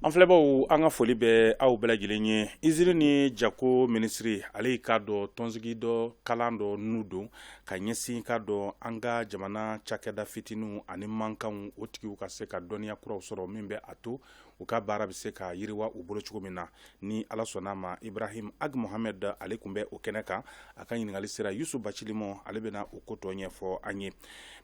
an filɛbaw an ka foli bɛ aw bɛɛ lajɛlen ye izini ni jago minisiri ale y'i k'a dɔn tɔnsigi dɔ kalan dɔ nun don ka ɲɛsin k'a dɔn an ka jamana cakɛda fitininw ani mankanw o tigiw ka se ka dɔnniya kuraw sɔrɔ min bɛ a to u ka baara bɛ se ka yiriwa u bolo cogo min na ni ala sɔnna a ma ibrahim ag mohamɛd ale tun bɛ o kɛnɛ kan a ka ɲininkali sera yusufu bacili ma ale bɛna o ko tɔ ɲɛfɔ an ye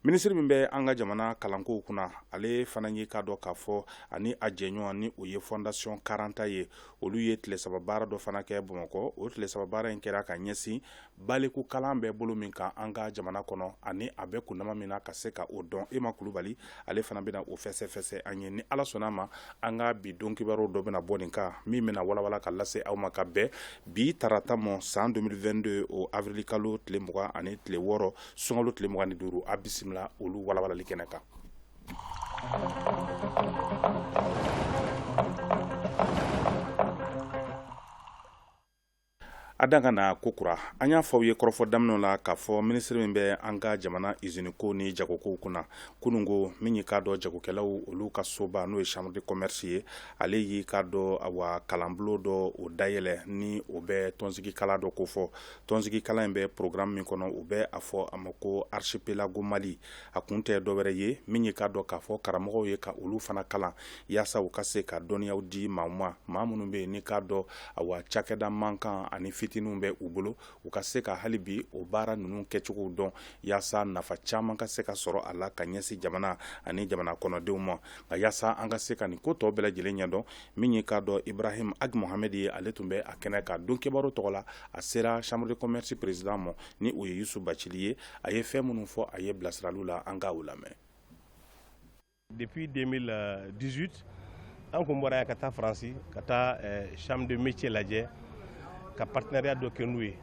minisiri min bɛ an ka jamana kalankow kunna ale fana ye k'a dɔn k'a fɔ ani a jɛɲɔgɔn ni o ye fɔndasiyɔn karanta ye olu ye tile saba baara dɔ fana kɛ bamakɔ o tile saba baara in kɛra ka ɲɛsin baliku kalan bɛ bolo min kan an ka jamana kɔnɔ ani a bɛ kunma min na ka se ka o dɔn ema kulubali ale fana bɛna o fɛsɛfɛsɛ an ye ni ala sɔnna a ma an ka bi don kibaruw dɔ bɛna bɔ nin kan min bɛna walawala ka lase aw ma ka bɛn bi tarata ma san 2022 awirili kalo tile mugan ani tile wɔɔrɔ sunkalo tile mugan ni duuru a bisimila olu walawalali kɛnɛ kan A dan ka na ko kura an y'a fɔ aw ye kɔrɔfɔ daminɛ la k'a fɔ minisiri min bɛ an ka jamana izinikow ni jagokow kunna kunun ko min y'i k'a dɔn jagokɛlaw olu ka soba n'o ye chambre de commerce ye ale y'i k'a dɔn awa kalanbulon dɔ o dayɛlɛ ni o bɛ tɔnsigikalan dɔ ko fɔ tɔnsigikalan in bɛ porogaramu min kɔnɔ u bɛ a fɔ a ma ko archipelago mali a kun tɛ dɔwɛrɛ ye min ye k'a dɔn k'a fɔ karamɔgɔw ye ka olu fana kalan walasa u ka se ka dɔnniya di maaw ma maa minnu bɛ yen n'i k'a dɔn awa cakɛda mankan ani fitininw bɛ u bolo u ka se ka hali bi o baara ninnu kɛcogo dɔn walasa nafa caman ka se ka sɔrɔ a la ka ɲɛsin jamana ani jamana kɔnɔdenw ma a walasa an ka se ka nin ko tɔw bɛɛ lajɛlen ɲɛdɔn min ye k'a dɔn ibrahim ag mohamɛd ye ale tun bɛ a kɛnɛ kan don kibaru tɔgɔ la a sera chambre de commerce président ma ni o ye yusufu bacili ye a ye fɛn minnu fɔ a ye bilasirali la an ka o lamɛn Depuis 2018, an kun bɔra yan ka taa faransi ka taa eh, chambre de métier lajɛ ka partenariat dɔ kɛ n'u ye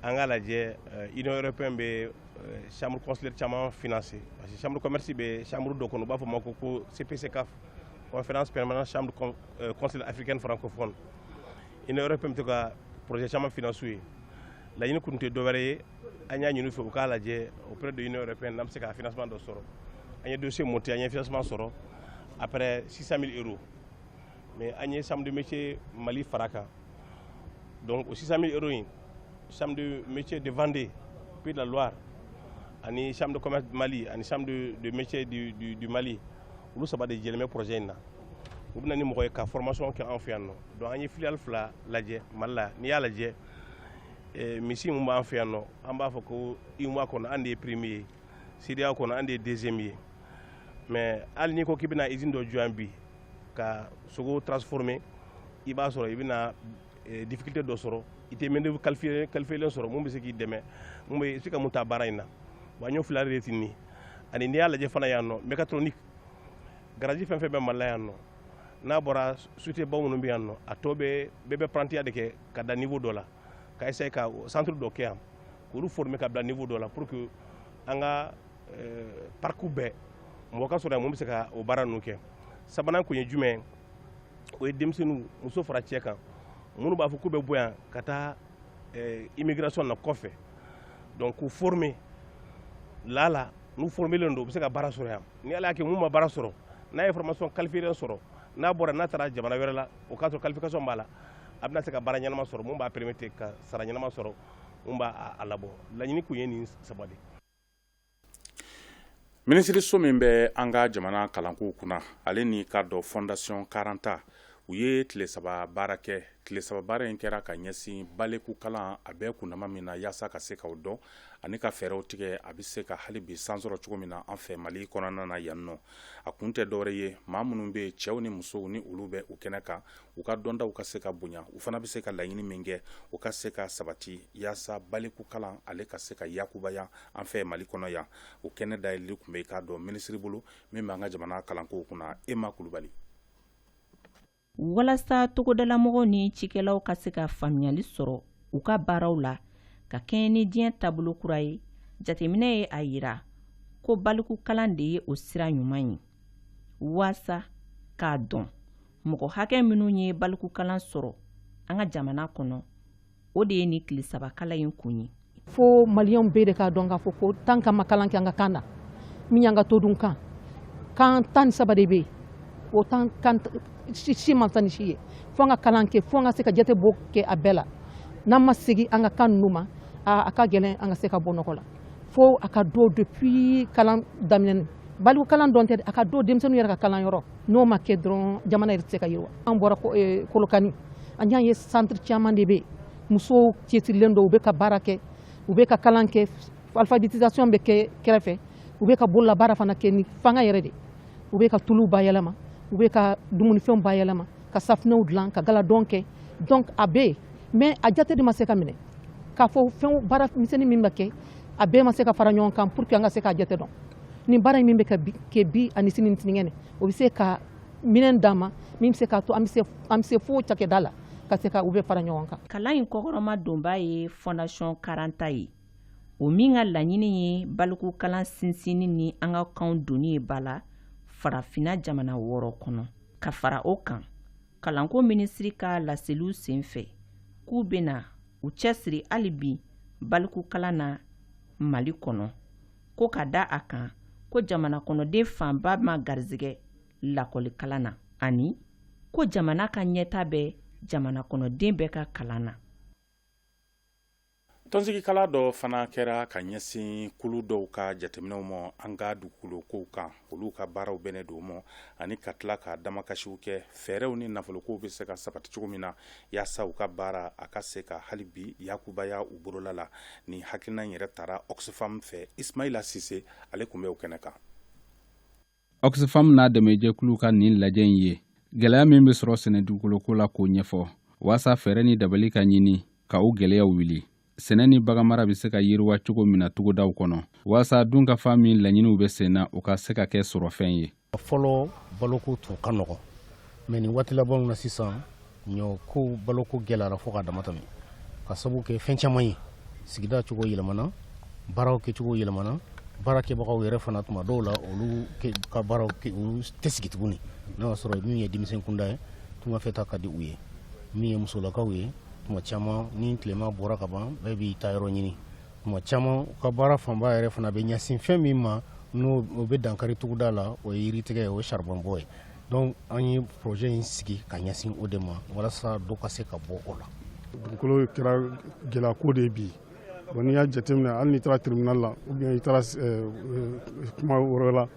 an ka lajɛ eh, union européenne bɛ eh, chambre consulaire caman financer parce que chambre commerce bɛ chambre dɔ kɔnɔ u b'a fɔ ma ko ko cpccaf conférence permanente chambre consulaire africaine francophone union européenne bɛ to ka projet caman financer u ye laɲini kun tɛ dɔwɛrɛ ye an y'a ɲini u fɛ u k'a lajɛ auprès de l'Union européenne n'an bɛ se ka financement dɔ sɔrɔ an ye dossier monter an ye financement sɔrɔ à peu près 600 000 euros mais an ye chambre de métier Mali fara a kan donc o 600 000 euros in chambre de métier de Vendée Pays de la Loire ani chambre de commerce du Mali ani chambre de, de métier du, du, du Mali olu saba de jɛlen bɛ projet in na u bɛ na ni mɔgɔ ye ka formation kɛ an fɛ yan nɔ donc an ye filiale fila lajɛ Mali la n'i y'a lajɛ eh, misi min b'an fɛ yan nɔ an b'a fɔ ko UEMOA kɔnɔ an de ye premier ye CEDEAO kɔnɔ an de ye deuxième ye mais hali n'i ko k'i bɛna izini dɔ jɔ yan bi ka sogo transformer i b'a sɔrɔ i bɛna eh, difficulté dɔ sɔrɔ i tɛ main-d'œuvre qualifiélen sɔrɔ mun bɛ se k'i dɛmɛ mun bɛ se ka mun ta baara in na wa ɲɔ fila de tin ni ani n'i y'a lajɛ fana yan nɔ mécatronique garaji fɛn fɛn bɛ mali la yan nɔ n'a bɔra sociétébaw minnu bɛ yan nɔ a tɔ bɛ bɛɛ bɛ parantiya de kɛ ka dan niveau dɔ la ka essayer ka centre dɔ kɛ yan k'olu former ka bila niveau dɔ la pour que an ka euh, parcours bɛɛ mɔgɔ ka sɔrɔ yan mun bɛ se ka o baara ninnu kɛ sabanan kun ye jumɛn o ye denmisɛnninw muso fara cɛ kan minnu b'a fɔ k'u bɛ bɔ yan ka taa euh, immigration na kɔfɛ donc k'u former lala n'u formelen don u bɛ se ka baara sɔrɔ yan ni ala y'a kɛ mun ma baara sɔrɔ n'a ye formation qualifiée sɔrɔ n'a bɔra n'a taara jamana wɛrɛ la o k'a sɔrɔ qualification b'a la a bɛna se ka baara ɲɛnama sɔrɔ mun b'a permettre ka sara ɲɛnama sɔrɔ mun b'a a labɔ laɲini kun ye nin saba de minisiriso min bɛ an ka jamana kalankow kunna ale ni ka dɔ fondation karanta u ye tile saba baara kɛ tile saba baara in kɛra ka ɲɛsin balikukalan a bɛ kundama min na yaasa ka se k'o dɔn ani ka fɛɛrɛw tigɛ a bɛ se ka hali bi san sɔrɔ cogo min na an fɛ mali kɔnɔna na yan nɔ a kun tɛ dɔwɛrɛ ye maa minnu bɛ cɛw ni musow ni olu bɛ u kɛnɛ kan u ka dɔntaw ka se ka bonya u fana bɛ se ka laɲini min kɛ u ka se ka sabati yaasa baliku kalan ale ka se ka yakubaya an fɛ mali kɔnɔ yan o kɛnɛ dayɛlɛli tun bɛ k'a dɔn minisiri bolo min bɛ an ka jamana kalankow kunna ema kulubali walasa togodalamɔgɔw ni cikɛlaw ka se ka faamuyali sɔrɔ u ka baaraw la ka kɛɲɛ ni diɲɛ taabolo kura ye jateminɛ ye a yira ko balikukalan de ye o sira ɲuman ye walasa k'a dɔn mɔgɔ hakɛ minnu ye balikukalan sɔrɔ an ka jamana kɔnɔ o de ye nin tile saba kalan in kun ye fo malien bɛɛ de k'a dɔn k'a fɔ ko tant qu'an ma kalan kɛ an ka kan na min y'an ka todun kan kan tan ni saba de bɛ yen o tan kan si man tan ni si ye fo an ka kalan kɛ fo an ka se ka jatebɔ kɛ a bɛɛ la n'an ma segin an ka kan ninnu ma a ka gɛlɛn an ka se ka bɔ nɔgɔ la fo a ka don depuis kalan daminɛ baliku kalan dɔrɔn tɛ a ka don denmisɛnninw yɛrɛ ka kalan yɔrɔ n'o ma kɛ dɔrɔn jamana yɛrɛ tɛ se ka yiriwa an bɔra eh, kolokani an y'a ye centre caman de bɛ yen musow cɛsirilen don u bɛ ka baara kɛ u bɛ ka kalan kɛ alphabétisation bɛ kɛ kɛrɛfɛ u bɛ ka bololabaara fana kɛ ni fanga yɛrɛ de u bɛ ka tuluw bayɛlɛma u bɛ ka dumunifɛnw bayɛlɛma ka safinɛw dilan ka galadon kɛ donc a bɛ yen mais a jate de ma se ka minɛ k'a fɔ fɛn baara misɛnnin min bɛ kɛ a bɛɛ ma se ka fara ɲɔgɔn kan pour que an ka se k'a jate dɔn ni baara in min bɛ ka kɛ bi ani sini ni sinikɛnɛ o bɛ se ka minɛn d'an ma min bɛ se k'a to an bɛ se fo cakɛda la ka se ka u bɛɛ fara ɲɔgɔn kan kalan in kɔkɔrɔmadonbaa ye fondation karanta ye o min ka laɲini ye balikukalan sinsinni ni an ka kanw donni ye ba la farafina jamana wɔɔrɔ kɔnɔ ka fara o kan kalanko minisiri ka laseliw sen fɛ k'u bɛna u cɛsiri hali bi balikukalan na mali kɔnɔ ko ka da a kan ko jamana kɔnɔden fanba ma garisɛgɛ lakɔlikalan na ani ko jamana ka ɲɛtaa bɛ jamana kɔnɔden bɛɛ ka kalan na tɔnsigikalan dɔ fana kɛra ka ɲɛsin kulu dɔw ka jateminɛw ma an ka dugukolokow kan olu ka baaraw bɛnnen don ma ani ka tila ka damakasiw kɛ fɛɛrɛw ni nafolokow bɛ se ka sabati cogo min na yaasa u ka baara a ka se ka hali bi yakubaya u bolola la nin hakilina yɛrɛ tara oxfam fɛ ismaila sise ale tun bɛ o kɛnɛ kan oxfam n'a dɛmɛjɛkulu ka nin lajɛ in ye gɛlɛya min bɛ sɔrɔ sɛnɛ dugukoloko la k'o ɲɛfɔ waasa fɛɛrɛ ni dabali ka ɲini ka o gɛlɛyaw wuli sɛnɛ ni baganmara bɛ se ka yiriwa cogo min na togodaw kɔnɔ walasa dunkafa min laɲiniw bɛ senna o ka se ka kɛ sɔrɔfɛn ye fɔlɔ baloko tun ka nɔgɔ mais nin waati labanw na sisan ɲɔko baloko gɛlɛyara fo ka damatɛmɛ k'a sabu kɛ fɛn caman ye sigida cogo yɛlɛmana baaraw kɛcogo yɛlɛmana baarakɛbagaw yɛrɛ fana tuma dɔw la olu ka baaraw olu tɛ sigi tuguni n'a y'a sɔrɔ min ye denmisɛn kunda ye tungafɛtaa ka di u ye min ye musolakaw ye tuma caman ni tilema bɔra ka ban bɛɛ b'i taayɔrɔ ɲini tuma caman u ka baara fanba yɛrɛ fana bɛ ɲɛsin fɛn min ma ni o bɛ dankari togoda la o ye yiritigɛ ye o ye saribɔnbɔ ye donc an ye projet in sigi ka ɲɛsin o de ma walasa dɔ ka se ka bɔ o la dugukolo kɛra gɛlɛyako de ye bi bon n'i y'a jateminɛ hali n'i taara tribunal la ou bien i taara kuma wɛrɛ la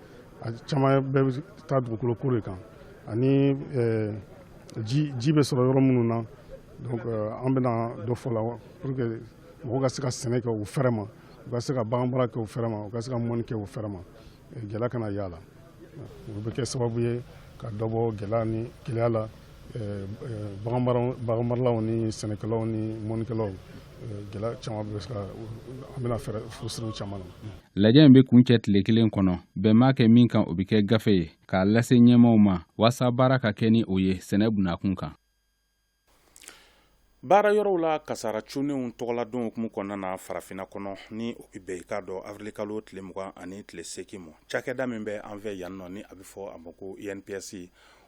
a caman bɛɛ bɛ taa dugukoloko de kan ani ji ji bɛ sɔrɔ yɔrɔ minnu na donc euh, an bɛna dɔ fɔ o la pour que mɔgɔw ka se ka sɛnɛ kɛ u fɛrɛ ma u ka se ka baganmara kɛ u fɛrɛ ma u ka se ka mɔnni kɛ u fɛrɛ ma gɛlɛya kana y'a la o bɛ kɛ sababu ye ka dɔ bɔ gɛlɛya ni keleya la euh, euh, baganmaralaw ni sɛnɛkɛlaw ni mɔnnikɛlaw gɛlɛya caman bɛ se ka an bɛna fɛɛrɛ fura siri u caman na lajɛ in bɛ kuncɛ tile kelen kɔnɔ bɛn mana kɛ min kan o bɛ kɛ gafe ye k'a lase ɲɛmaaw ma waasa baara ka kɛ ni o ye sɛnɛ bunda kunkan baara yɔrɔw la kasaara cunnenw tɔgɔladon hukumu kɔnɔna na farafinna kɔnɔ ni o bɛ bɛn i k'a dɔn awirilikalo tile mugan ani tile seegin ma cakɛda min bɛ an fɛ yan nɔ ni a bɛ fɔ a ma ko inps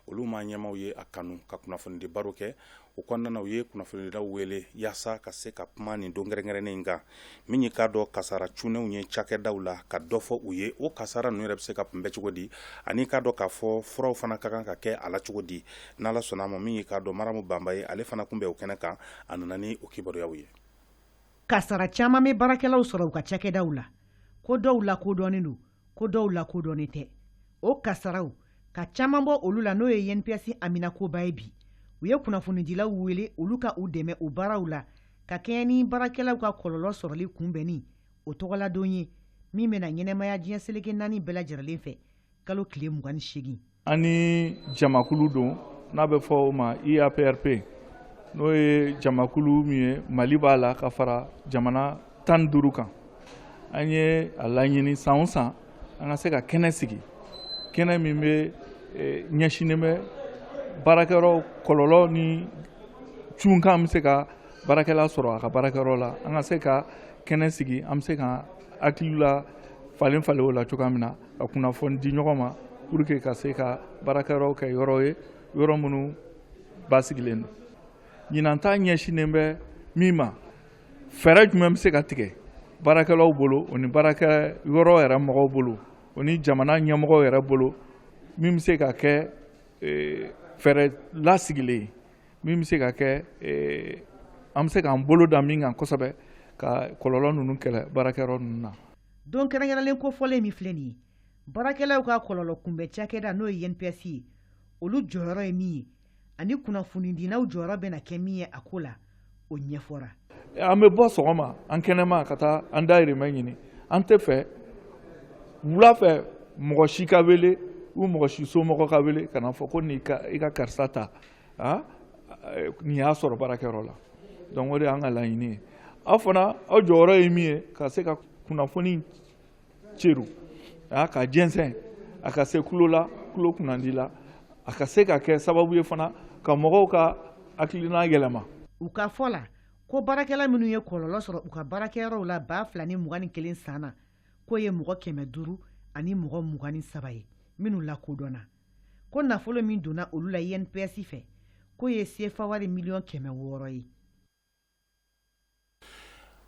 olu ma ɲɛmaaw ye a kanu ka kunnafonidi baro kɛ o kɔnɔna u ye kunnafonidilaw wele yaasa ka se ka kuma nin don kɛrɛnkɛrɛnnen in kan min ye k'a dɔn kasara cunnenw ye cakɛdaw la ka dɔ fɔ u ye o kasara ninnu yɛrɛ bɛ se ka kunbɛn cogo di ani i k'a dɔn k'a fɔ furaw fana ka kan ka kɛ a la cogo di n'ala sɔnna a ma min ye k'a dɔn maramu banba ye ale fana tun bɛ o kɛnɛ kan a nana ni o kibaruyaw ye kasara caman bɛ baarakɛlaw sɔrɔ u ka cakɛdaw la ko dɔw lakodɔnnen don ko dɔw lakodɔnnen tɛ o kasaraw ka caman bɔ olu la n'o ye INPS haminankoba ye bi u ye kunnafonidilaw wele olu ka u dɛmɛ u baaraw la ka kɛɲɛ ni baarakɛlaw ka kɔlɔlɔ sɔrɔli kunbɛnni o tɔgɔladon ye min bɛna ɲɛnamaya diɲɛ seleke naani bɛɛ lajɛrɛlen fɛ kalo tile 28 An ni jamakulu don n'a bɛ fɔ o ma IAPRP n'o ye jamakulu min ye Mali b'a la ka fara jamana tan ni duuru kan an ye a laɲini san o san an ka se ka kɛnɛ sigi kɛnɛ min bɛ eh, ɲɛsinnen bɛ baarakɛyɔrɔ kɔlɔlɔ ni cunkan bɛ se ka baarakɛla sɔrɔ a ka baarakɛyɔrɔ la an ka se ka kɛnɛ sigi an bɛ se ka hakilila falenfalen o la cogoya min na ka kunnafoni di ɲɔgɔn ma pour que ka se ka baarakɛyɔrɔw kɛ yɔrɔ ye yɔrɔ minnu basigilen don ɲinan ta ɲɛsinnen bɛ min ma fɛɛrɛ jumɛn bɛ se ka tigɛ baarakɛlaw bolo o ni baarakɛyɔrɔ yɛrɛ mɔgɔw bolo o ni jamana ɲɛmɔgɔw yɛrɛ bolo min bɛ se ka kɛ e, fɛɛrɛ lasigilen ye min bɛ se ka kɛ e, an bɛ se k'an bolo da min kan kosɛbɛ ka kɔlɔlɔ ninnu kɛlɛ baarakɛyɔrɔ ninnu na Don kɛrɛnkɛrɛnlen kofɔlen min filɛ nin ye, baarakɛlaw ka kɔlɔlɔ kunbɛn cakɛda n'o ye INPS ye, olu jɔyɔrɔ ye min ye ani kunnafonidilaw jɔyɔrɔ bɛna kɛ min ye a ko la, o ɲɛfɔra. An bɛ bɔ sɔgɔma an kɛnɛma ka taa an dahirimɛ ɲini, an t'a fɛ wula fɛ mɔgɔ si ka wele ou mɔgɔ si somɔgɔ ka wele ka n'a fɔ ko n'i ka karisa ta. aa nin y'a sɔrɔ baarakɛyɔrɔ la donc o de y'an ka laɲini ye aw fana aw jɔyɔrɔ ye min ye ka se ka kunnafoni ceru aa k'a jɛnsɛn a ka se tulo la tulo kunnandi la a ka se ka kɛ sababu ye fana ka mɔgɔw ka hakilina yɛlɛma u ka fɔ la ko baarakɛla minnu ye kɔlɔlɔ sɔrɔ u ka baarakɛyɔrɔw la baa fila ni mugan ni kelen san na k'o ye mɔgɔ kɛmɛ duuru ani mɔgɔ mugan ni saba ye minnu lakodɔnna ko nafolo min donna olu la INPS fɛ k'o ye CFA wari miliyɔn kɛmɛ wɔɔrɔ ye.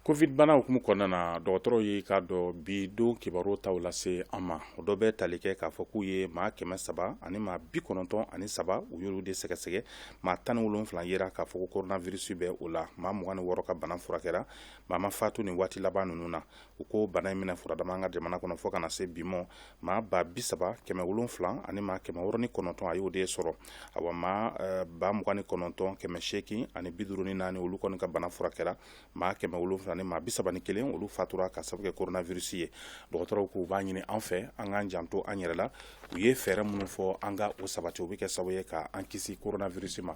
covid bana hukumu kɔnɔna na dɔgɔtɔrɔw ye k'a dɔn bi don kibaru taw lase an ma o dɔ bɛ tali kɛ k'a fɔ k'u ye maa kɛmɛ saba ani maa bi kɔnɔntɔn ani saba u y'olu de sɛgɛsɛgɛ maa tan ni wolonfila yera k'a fɔ ko koronavirisi bɛ o la maa mugan ni wɔɔrɔ ka bana furakɛra maa ma fatu nin waati laban ninnu na u ko bana in minɛ furadama an ka jamana kɔnɔ fo ka na se bi ma maa ba bi saba kɛmɛ wolonwula ani maa kɛmɛ wɔɔrɔ ni kɔnɔntɔn a y'o de sɔrɔ awa maa eh, ba mugan ni kɔnɔntɔn kɛmɛ seegin ani biduruni naani olu kɔni ka bana furakɛra maa kɛmɛ wolonwula ni maa bi saba ni kelen olu fatura ka sababu kɛ koronavirusi ye dɔgɔtɔrɔw k'u b'a ɲini an fɛ an k'an janto an yɛrɛ la u ye fɛɛrɛ minnu fɔ an ka o sabati o bɛ kɛ sababu ye ka an kisi koronavirusi ma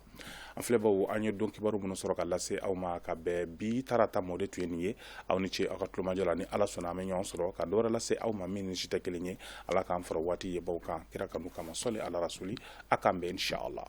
an filɛbaw an ye don kibaru minnu sɔrɔ ka lase aw ma ka bɛn bi tarata ma o de tun ye nin ye aw ni ce aw ka tulomajɔ la ni ala sɔnna an bɛ ɲɔgɔn sɔrɔ ka dɔwɛrɛ lase aw ma min ni si tɛ kelen ye ala k'an fara waati yebaw kan kira kanu kama sɔli ala rasuli a k'an bɛn inshallah